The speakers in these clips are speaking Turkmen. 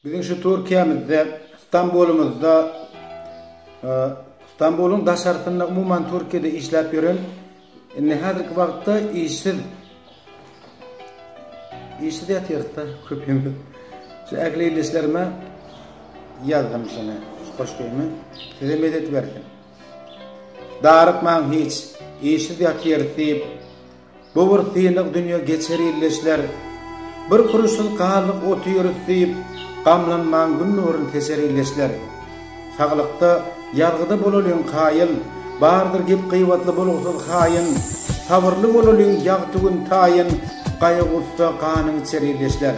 Biziň şu Türkiýemizde, Stambulymyzda, Stambulyň daşarysynda umuman Türkiýede işläp ýören indi häzirki wagtda işsiz işsiz ýatyrysda köpimiz. Şu ähli ildeşlerime ýazdym şuny, şu goşgymy. Size medet bersin. Darykmaň hiç, işsiz ýatyrys diýip, Bu bir sylag dünýe geçer illeşler Bir kuruşsyz galyp otyrys diýip Gamlanmaň gün nurun seçer illeşler Saglykda ýazgyda bolalyň kaýyl Bardyr gep gybatly bolgusyz haýyn Sabyrly bolalyň ýagty gün taýyn Gaýy-gussa ganyň içer illeşler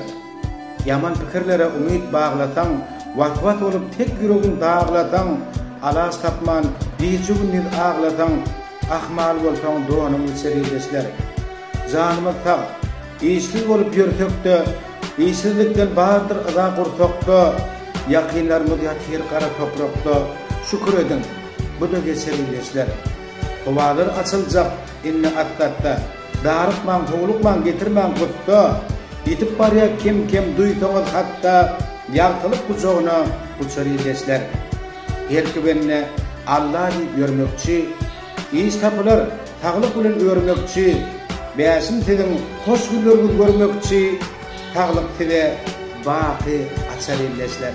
Ýaman pikirlere umyt baglasaň Was-was bolup tek ýüregin daglasaň Alaç tapman gije-gündiz aglasaň Ahmal bolsaň donuň içer ildeşler. Janymyz sag. Işsiz bolup ýörsek-de, işsizlikden bardyr yza gursakda, ýakynlarymyz ýatyr gara toprakda, şükür ediň, bu-da geçer ildeşler. Howalar açyljak indi atdatda, darykmaň, howlukmaň, getirmäň gussa, ýitip barýar kem-kem duýsaňyz hat-da, ýagtylyk gujagyna uçar ildeşler. Belki bende Alla diýip ýörmekçi, Iş tapylar saglyk bilen örmekçi, Bäşim siziň hoş günleriňiz görmekçi, Saglyk size baky açar ildeşler.